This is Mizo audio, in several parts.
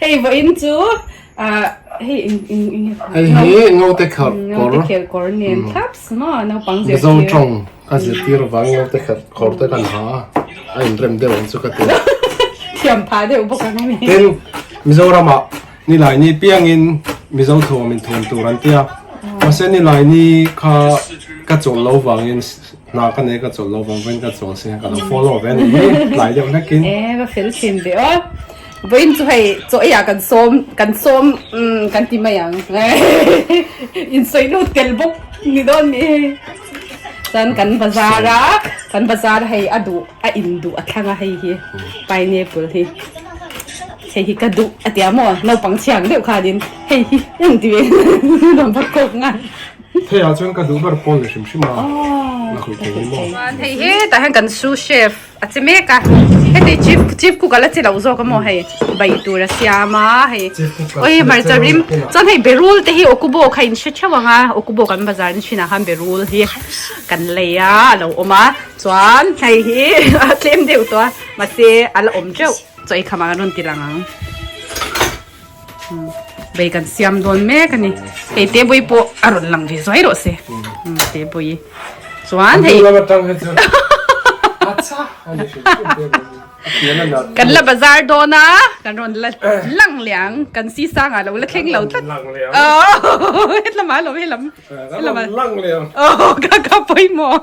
Hei vawiin chu hei Ngote Khelh kawr nen thlap suma naupang zir tir. Mizo tawng a zir tir avang Ngote Khelh kawr te kan ha a, a inrem deuh ang chu ka ti. Thiam pha deuh bawk ang a ni. Tin, Mizoramah nilaini piangin Mizo thuam inthuam tur an tia. Mahse nilaini kha ka chawlh lo vangin. Hna ka nei ka chawlh lo vang vawiin ka chawlh si ka lo follow ve ni hi tlai deuh hlekin. E va fel thin ve aw. Vawiin chu hei chaw ei ah kan sawm kan sawm kan ti mai ang insawi lut tel bawk ni dawn nih hi. Chuan kan bazar a kan bazar hei a duh a in duh a thlang a hei hi pineapple hi hei hi ka duh a tia maw naupang thiang deuh khanin hei hi ang ti ve a ni dawn bawk kawk ngai. Thei ah chuan ka duh ber pawl ni hrim hrim a la khawih thei ni maw. Chuan hei he tah hian kan sous chef a che mek a heti chief chief cook a la che loh zawk a maw hei bai tur a siam a hei aw he hmarcha rim chuan hei berul te hi okubo kha in hre theuh ang a okubo kan bazar in hrinah khan berul hi kan lei a a lo awm a chuan hei hi a tlem deuh tawh a mahse a la awm teuh chaw i khamah kan rawn ti lang ang. Bei kan siam dawn mek a ni. Hei te bui pawh a rawn lang ve zuai rawh se. Te bui. Chuan hei. Kan la bazar dawn a, kan rawn la lang liang. Kan si sanga lo la thleng lo tlat. Hetlamah a lo, helam. Ka rawn lang liang. Ka ka pawimawh.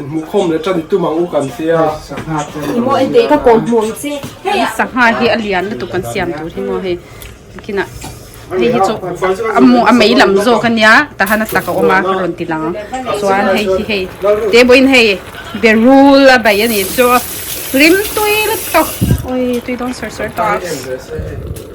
Inhmuhkhawm leh ṭan tum ang u kan tia. I maw en teh i ka kawm hmu ang che. Hei sangha hi a lian lutuk kan siam tur hi maw hei bikinah hei hi chu a mei lam zawk a nia tahana tak a awm a ka rawn ti lang ang chuan hei hi hei te bo in hei berul a bei a ni chu rim tui lutuk awi tui dawn ser ser tawh a.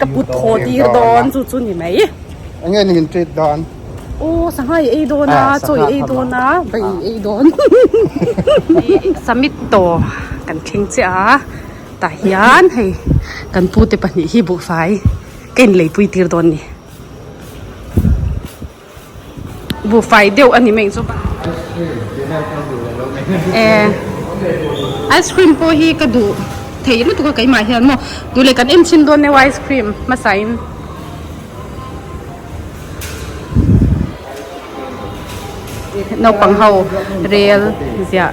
ka put thaw tir dawn chu chu ni mai enge ni min treat dan oh sangha i ei dawn a chaw i ei dawn a bai i ei dawn summit tawh kan thleng chiah a tah hian hei kan pute pahnih hi buhfai ka inlei pui tir dawn ni. Buhfai deuh a ni mai zawk a. Ehh ice cream pawh hi ka duh theih lutuk a keimah hian maw tun leh kan en chin dawn deuh a ice cream hmasa in. Naupang ho rel ziah.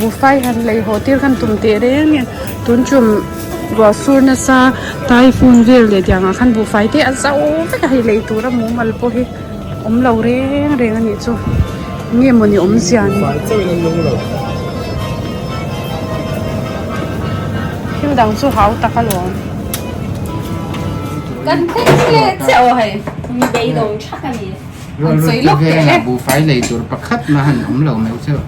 Buhfai han laih haw tir khan tum teh reng reng tun chu ruah sur nasa taifun vel leh tiang ah khan buhfai te a zau vek a hei lei tura mumal pawh hi awm lo reng reng a nih chu nge maw ni awm zia ni thil dang chu hau tak a lo. Ruah rut te vêngah buhfai lei tur pakhat mah han awm lo meuh cheuh.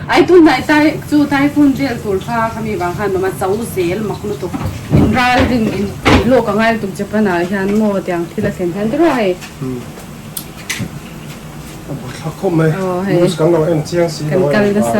Ai tunlai tai chu Typhoon vel tur kha khami vang khan mama chau zel mak lutuk. In ral rin in tih lawk a ngai lutuk Japan ah hian maw tiang thil a thlen hian te ruah hei. Chemical nasa.